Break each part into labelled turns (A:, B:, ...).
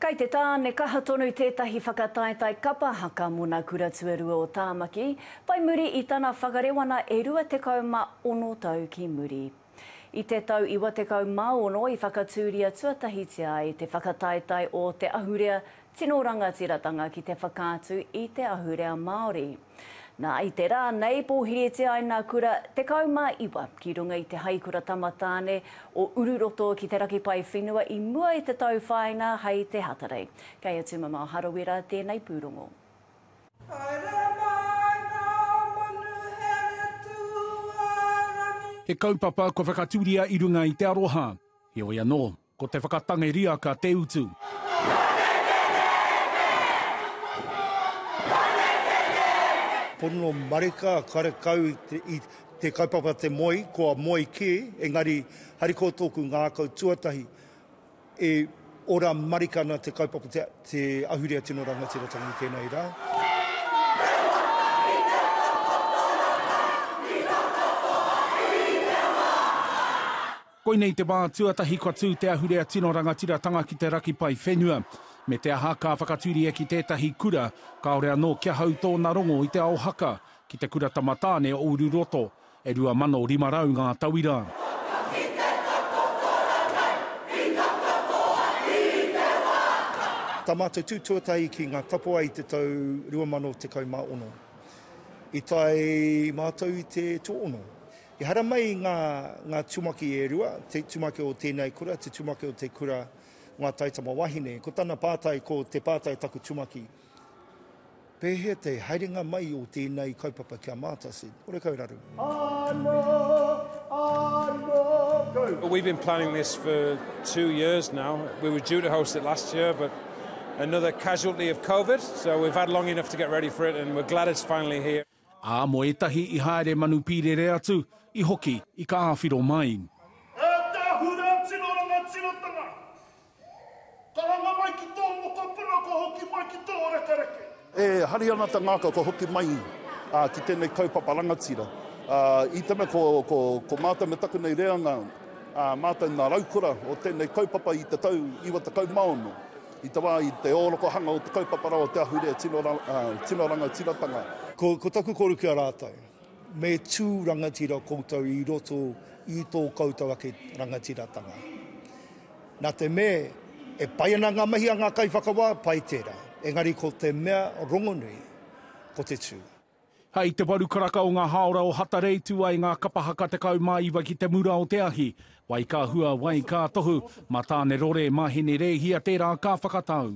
A: Kei te tāne kaha tonu tētahi whakataetae kapa haka mō nā Kura Tuarua o Tāmaki, whai muri i tana whakarewana e 26 tau ki muri. I te tau 96 i whakatūria tuatahitia ai te whakataetae o te ahurea tino rangatiratanga ki te whakaatu i te ahurea Māori. Nā, i te rā nei pōhiritia ai nā kura 19 ki runga i te haikura tamatāne o Ururoto ki te raki pae whenua i mua i te tau whāinga hai te Hatarei. Kei a Tumamao Harawira tēnei pūrongo. Haere mai ngā manuhere
B: tuarangi. He kaupapa kua whakatūria i runga i te aroha. Heoi anō, Ko te whakatangi riaka te utu.
C: Pono marika karekau i te kaupapa te moe, kua moe kē, engari harikoa tōku ngākau tuatahi, e ora marika ana te kaupapa te ahurea tino rangatiratanga i tēnei rā.
B: Koinei te wā tuatahi kua tū te ahurea tino rangatiratanga ki te raki pae whenua. Me te aha, ka whakatūria ki tētahi kura, kāore anō kia hau tōna rongo i te ao haka, ki te Kura Tamatāne o Ururoto. E 2,500 ngā tauira.
C: Tā mātou tū tuatahi ki Ngā Tapuwae i te tau 2016, i tae mātou i te tuaono. I haramai ngā, ngā tumaki e rua, te tumaki o tēnei kura, te tumaki o te kura Ngā Taitama Wahine. Ko tana pātai, ko te pātai taku tumaki, Pēhea te haerenga mai o tēnei kaupapa ki a mātou? said, Horekau raru. Anō, anō
D: kau. Well, we've been planning this for two years now. We were due to host it last year, but another casualty of COVID, so we've had long enough to get ready for it, and we're glad it's finally here. Ā, mō ētahi
B: i haere manu pīrere atu, i hoki, i ka āwhiro mai. E te ahurei a tino rangatiratanga, karanga mai ki
E: tō mokopuna kua hoki mai ki tō rekereke. E hari ana te ngākau kua hoki mai ki tēnei kaupapa rangatira. I te mea ko mātou me taku nei reanga, mātou nā raukura o tēnei kaupapa i te tau 96. I taua wā, i te ōrokohanga o te kaupapa rawa o te ahurea tino rangatiratanga. Ko taku
C: kōrero ki a rātou, me tū rangatira koutou i roto i tō koutou ake rangatiratanga. Nā te mea, e pai ana ngā mahi a ngā kaiwhakawā, pai tērā. Engari ko te mea rongonui, ko te tū. Hei te waru
B: karaka o ngā hāora o Hatarei tū ai ngā kapa haka 19 ki te mura o te ahi, wai ka hua, wai ka tohu, mā Tāne Rore, mā Hine Rēhia tērā ka whakatau.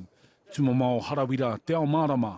B: Tumamao Harawira, Te Ao Mārama.